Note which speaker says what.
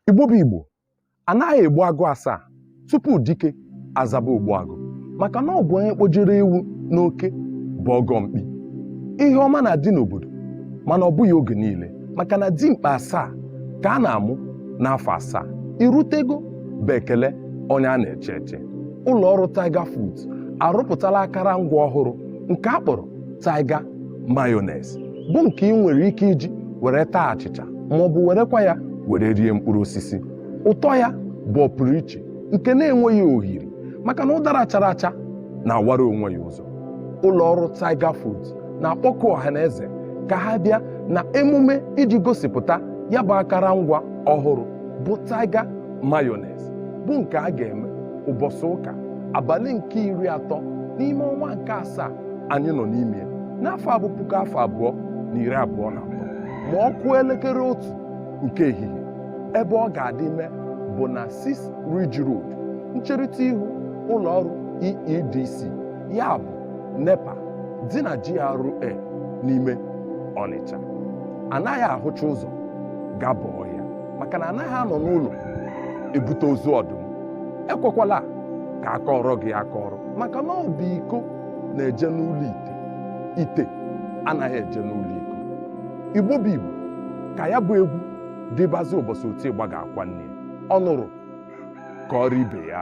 Speaker 1: igbo bụ igbo anaghị egbu agụ asaa tupu dike azaba ogbu agụ maka na ọ bụ onye kpọjere ewu n'oke bụ ọgọ mkpi ihe ọma na-adị n'obodo mana ọ bụghị oge niile maka na dimkpa asaa ka a na-amụ n'afọ asaa i rutego bụ ekele onye a na-eche eche ụlọ ọrụ Tiger Foods arụpụtala akara ngwa ọhụrụ nke a kpọrọ Tiger Mayonnaise bụ nke i nwere ike iji were taa achịcha ma ọ bụ werekwa ya were rie mkpụrụ osisi ụtọ ya bụ ọpụrụ iche nke na-enweghị ohiri maka na ụdara chara acha na-awara onwe ya ụzọ ụlọ ọrụ Tiger Foods na-akpọku ọha na eze ka ha bịa na emume iji gosipụta ya bụ akara ngwa ọhụrụ bụ Tiger Mayonnaise bụ nke a ga-eme ụbọsị ụka abalị nke iri atọ n'ime ọnwa nke asaa anyị nọ n'ime ya n'afọ a bụ puku afọ abụọ na iri abụọ na abụọ ma ọ kụọ elekere otu nke ehihie ebe ọ ga-adị mee bụ na 6 Ridge Road ncherịta ihu ụlọ ọrụ EEDC ya bụ NEPA dị na GRA n'ime Ọnịcha anaghị ahụcha ụzọ gaba ọhịa maka na anaghị anọ n'ụlọ ebute ozu ọdụm ekwekwala ka a kọọrọ gị akọrọ maka na ọ bụ iko na-eje n'ụlọ ite ite anaghị eje n'ụlọ iko igbo bụ igbo ka ya bụ egwu dịbazị ụbọsị oti ịgba ga-akwa nne ya. ọ nụrụ kọọrọ ibe ya